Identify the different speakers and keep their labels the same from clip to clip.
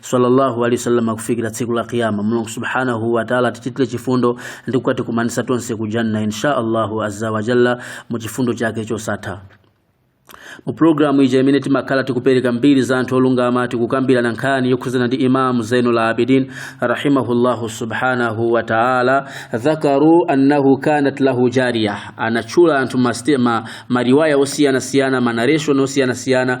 Speaker 1: sallallahu alaihi wasallam kufikira tsiku la kiyama mulungu subhanahu wa ta'ala tichitire chifundo ndi kukatikumanitsa tonse ku janna insha allahu azza wa jalla mu chifundo chake chosatha mu programu ija imene timakhala tikupereka mbiri za anthu olungama tikukambirana nkhani yokhudzana ndi imamu zainul abidin rahimahullahu subhanahu wa taala dhakaru annahu kanat lahu jariya anatchula anthu mariwaya osiyanasiyana manareshon osiyanasiyana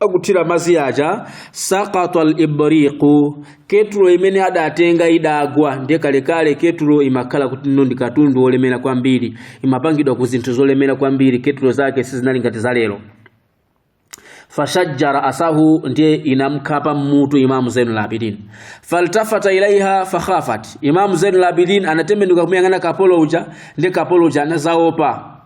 Speaker 1: akuthira madzi aja saqata libriqu ketulo imene adatenga idagwa ndiye kalekale ketulo imakhala kuti ndi katundu wolemera kwambiri imapangidwa ku zinthu zolemera kwambiri ketulo zake sizinali ngati za lero fashajja raasahu ndiye inamkhapa mmutu imamu zainul abidin faltafata ilaiha fakhafat imamu zainul abidin anatembenuka kumuyang'ana kapolo uja ndiye kapolo uja anazaopa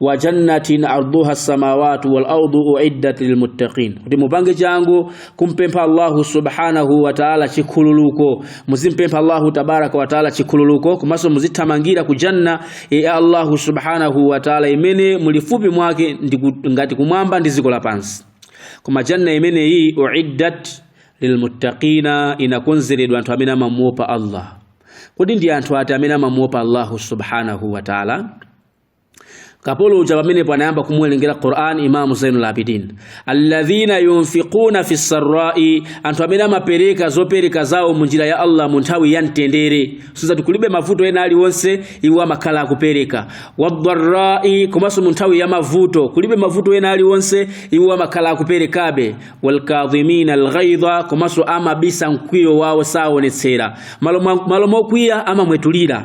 Speaker 1: wa jannatin arduha samawatu wal ardu uiddat lilmuttaqin kuti mupange changu kumpempha allahu subhanahu wa taala chikhululuko muzimpempha allahu tabaraka wa taala chikhululuko komanso muzithamangira ku janna ya allahu subhanahu wa taala imene mulifupi mwake ngati kumwamba ndi dziko lapansi koma janna imeneyi uiddat lilmuttaqina inakonzeredwa anthu amene amamuopa allah kodi ndi anthu ati amene amamuopa allahu subhanahu wa taala kapolo uja pamenepo anayamba kumuwerengera Qur'an Imam Zainul Abidin alladhina yunfiquna fi sarra'i anthu amene amapereka zopereka zawo mu njira ya Allah mu nthawi ya mtendere zoti kulibe mavuto ena aliwonse iwo amakhala akupereka wadharra'i komanso mu nthawi ya mavuto kulibe mavuto ena aliwonse iwo amakhala akuperekabe walkadhimina alghaidha komanso amabisa mkwiyo wawo saonetsera malo mokwiya amamwetulira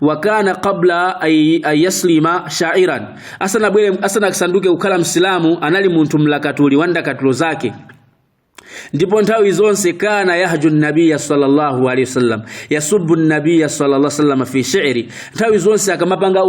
Speaker 1: wa kana qabla an yuslima sha'iran asanabwere asanasanduke kukhala msilamu anali munthu mlakatuli wa ndakatulo zake ndipo nthawi zonse kana yahju nabiya sallallahu alaihi wasallam yasubbu nabiya sallallahu alaihi wasallam fi shi'ri nthawi zonse akamapanga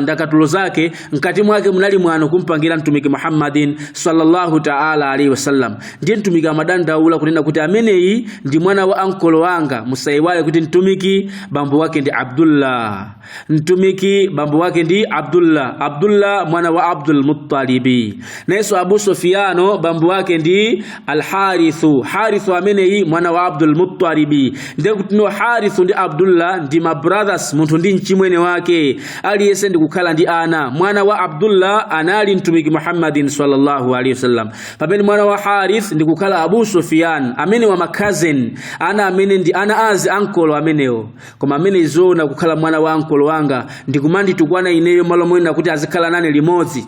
Speaker 1: ndakatulo zake mkati mwake munali mwano kumpangira mtumiki Muhammadin sallallahu ta'ala alaihi wasallam ndiye mtumiki amadandaula kunena kuti ameneyi ndi mwana wa ankolo wanga musaiwale kuti mtumiki bambo wake ndi Abdullah mtumiki bambo wake ndi Abdullah Abdullah mwana wa Abdul Muttalibi nayenso Abu Sufyano bambo wake ndi Al-Harithu Harithu ameneyi mwana wa Abdul Muttalibi ndiye kuti no Harithu ndi Abdullah ndi ma brothers munthu ndi mchimwene wake aliyense ndi kukhala ndi ana mwana wa Abdullah anali mtumiki Muhammadin sallallahu alaihi wasallam pamene mwana wa harith ndi kukhala abu sufiyan amene wa makazeni ana amene ndi ana azi ankolo amenewo koma amene iziona kukhala mwana wa ankolo wanga ndi kumanditukwana ineyo malo moyenera kuti azikhala nane limodzi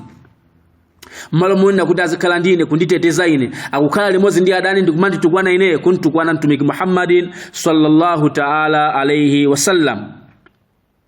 Speaker 1: malo moyenera kuti azikhala ndi ine kunditeteza ine akukhala limodzi ndi adani ndi kumanditukwana ineyo kunditukwana mtumiki muhammadin sallallahu taala alaihi wasallam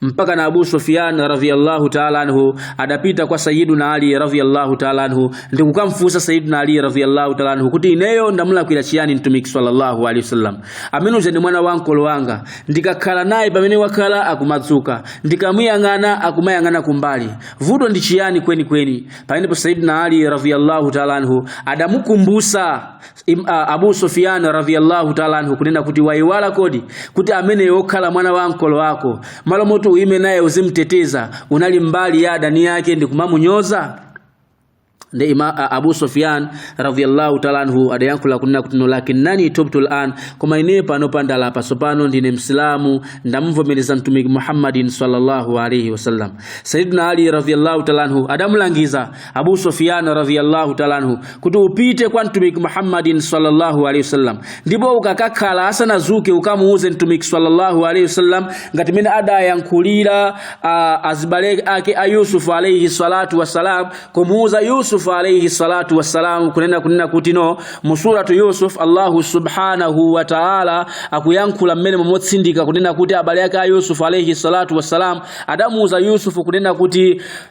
Speaker 1: mpaka na Abu Sufyan radhiyallahu ta'ala anhu adapita kwa Sayyiduna Ali radhiyallahu ta'ala anhu ndi kukamfusa Sayyiduna Ali radhiyallahu ta'ala anhu kuti ineyo ndamulakwira chiyani mtumiki sallallahu alaihi wasallam amene uja ndi mwana wa ankolo wanga ndikakhala naye pamene wakhala akumadzuka ndikamuyang'ana akumayang'ana kumbali vuto ndi chiyani kweni kweni pamenepo Sayyiduna Ali radhiyallahu ta'ala anhu adamukumbusa Im, a, Abu Sufyan radhiyallahu ta'ala anhu kunena kuti waiwala kodi kuti amene okhala mwana wa ankolo wako malo moti uime naye uzimteteza unali mbali ya adani yake ndi kumamunyoza nde ima a, Abu Sufyan radhiyallahu ta'ala anhu adayankhula kunena kuti no lakinnani tubtu al'an koma ine pano pandala pasopano ndine msilamu ndamvomereza mtumiki Muhammadin sallallahu alaihi wasallam Sayyidina Ali radhiyallahu ta'ala anhu adamulangiza Abu Sufyan radhiyallahu ta'ala anhu kuti upite kwa mtumiki Muhammadin sallallahu alaihi wasallam ndipo ukakakhala asanazuke ukamuuze mtumiki sallallahu alaihi wasallam ngati mene adayankhulira azibale ake a Yusuf alaihi salatu wassalam kumuuza Yusuf alaihi salatu wassalam kunena kunena kuti no musuratu Yusuf Allahu subhanahu wa ta'ala akuyankhula mmenemo motsindika kunena kuti abale ake a Yusuf alaihi salatu wassalam adamuuza Yusuf kunena kuti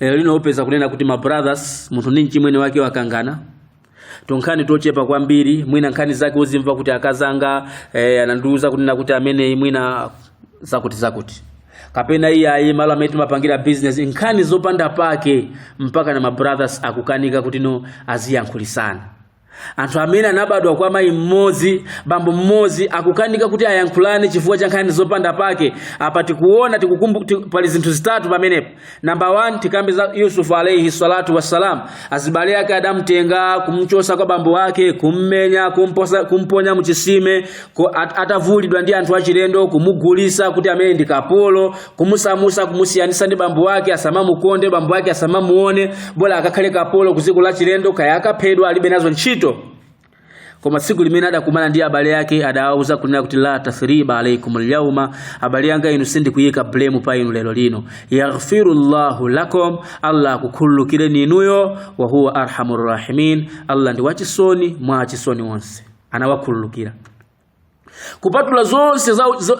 Speaker 1: lero lino upeza kunena kuti ma brothers munthu ndi mchimwene wake wakangana tinkhani tochepa kwambiri mwina nkhani zake uzimva kuti akazanga eh, anandiuza kunena kuti amene mwina zakuti zakuti kapena iye ayi malo amene timapangira a business nkhani zopanda pake mpaka na ma brothers akukanika kuti no aziyankhulisana anthu amene anabadwa kwa mayi mmodzi bambo mmodzi akukanika kuti ayankhulane chifukwa cha nkhani zopanda pake apa tikuona tikukumbu ti- pali zinthu zitatu pamenepo namba 1 tikambe za yusufu alaihi salatu wassalam azibale ake adamtenga kumchosa kwa bambo wake kummenya kumposa, kumponya muchisime ku- at- atavulidwa ndi anthu achilendo kumugulisa kuti amene ndi kapolo kumusamusa kumusiyanisa ndi bambo wake asamamukonde bambo wake asamamuone bola akakhale kapolo ku dziko lachilendo kaya akaphedwa alibe nazo ntchito koma tsiku limene adakumana ndi abale ake adawauza kunena kuti la tathriba alaikum lyauma abale anga inu sindikuyika blame pa inu lero lino yaghfiru llahu lakum allah akukhululukireni inuyo wa huwa arhamu rrahimin allah ndi wachisoni mwa achisoni onse anawakhululukira kupatula zonse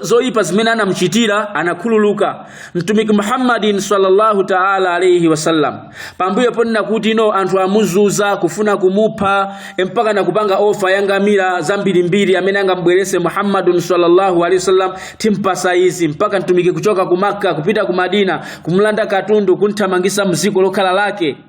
Speaker 1: zoipa zimene anamchitira anakhululuka mtumiki muhammadin sallallahu taala alaihi wasallam pambuyo ponena kuti no anthu amuzuza kufuna kumupha mpaka nakupanga ofa ya ngamira zambirimbiri amene angambweretse muhammadun sallallahu alaihi wasallam timpatsa izi mpaka mtumiki kuchoka ku makka kupita ku madina kumulanda katundu kumthamangitsa mdziko lokhala lake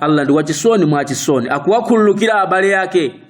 Speaker 1: Allah ndi wachisoni mwa achisoni akuwakhululukira abale ake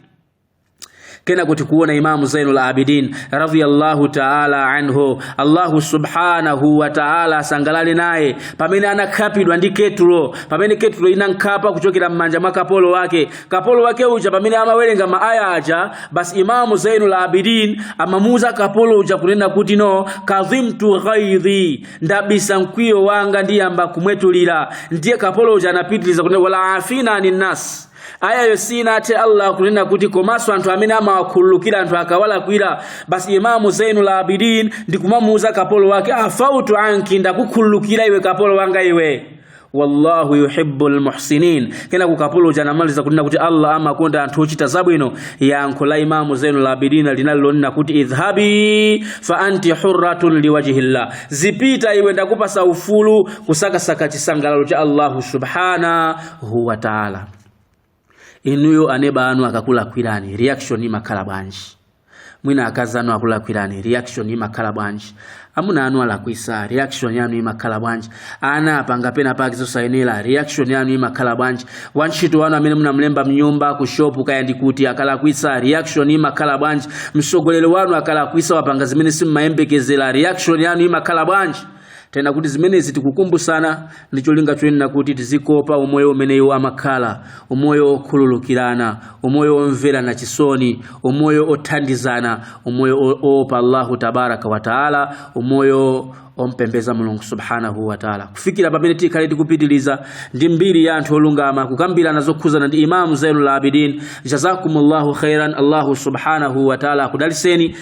Speaker 1: kena kuti kuona Imamu Zainul Abidin radhiyallahu ta'ala anhu Allahu subhanahu wa ta'ala asangalale naye pamene anakhapidwa ndi ketulo pamene ketulo inamkhapa kuchokera mmanja mwa kapolo wake kapolo wake uja pamene amawerenga maaya aja basi Imamu Zainul Abidin amamuuza kapolo uja kunena kuti no kadhimtu ghaidhi ndabisa mkwiyo wanga ndiyamba kumwetulira ndiye kapolo uja anapitiriza kunena wal afina anin nas aya yo sinathe allah kunena kuti komanso anthu amene amawakhululukira anthu akawalakwira basi imamu zainul abidin ndikumamuuza kapolo wake afautu anki ndakukhululukira iwe kapolo wanga iwe wallahu yuhibbul muhsinin kena kapolo uja anamaliza kunena kuti allah amakonda anthu ochita zabwino yankho la imamu zainul abidin linali lonena kuti idhhabi fa anti hurratun liwajhillah zipita iwe ndakupatsa ufulu kusakasaka chisangalalo cha allahu subhanahu wa taala inuyo aneba anu akakulakwirani reaction imakhala bwanji mwina akazi anu akulakwirani reaction imakhala bwanji amuna anu alakwitsa reaction yanu imakhala bwanji ana apanga pena pake zosayenera reaction yanu imakhala bwanji wantchito wanu amene munamlemba mnyumba ku shop kaya ndi kuti akalakwitsa reaction imakhala bwanji mtsogoleri wanu akalakwitsa wapanga zimene simumayembekezera reaction yanu imakhala bwanji tena kuti zimenezi tikukumbusana ndi cholinga chonena kuti tizikopa umoyo umene iwo amakhala umoyo wokhululukirana umoyo womverana chisoni umoyo othandizana umoyo o- oopa allahu tabaraka wataala umoyo ompembeza mulungu subhanahu wataala kufikira pamene tikhale tikupitiliza ndi mbiri ya anthu olungama kukambirana zokhudzana ndi imamu zainul abidin jazakumullahu khairan allahu subhanahu wataala akudalitseni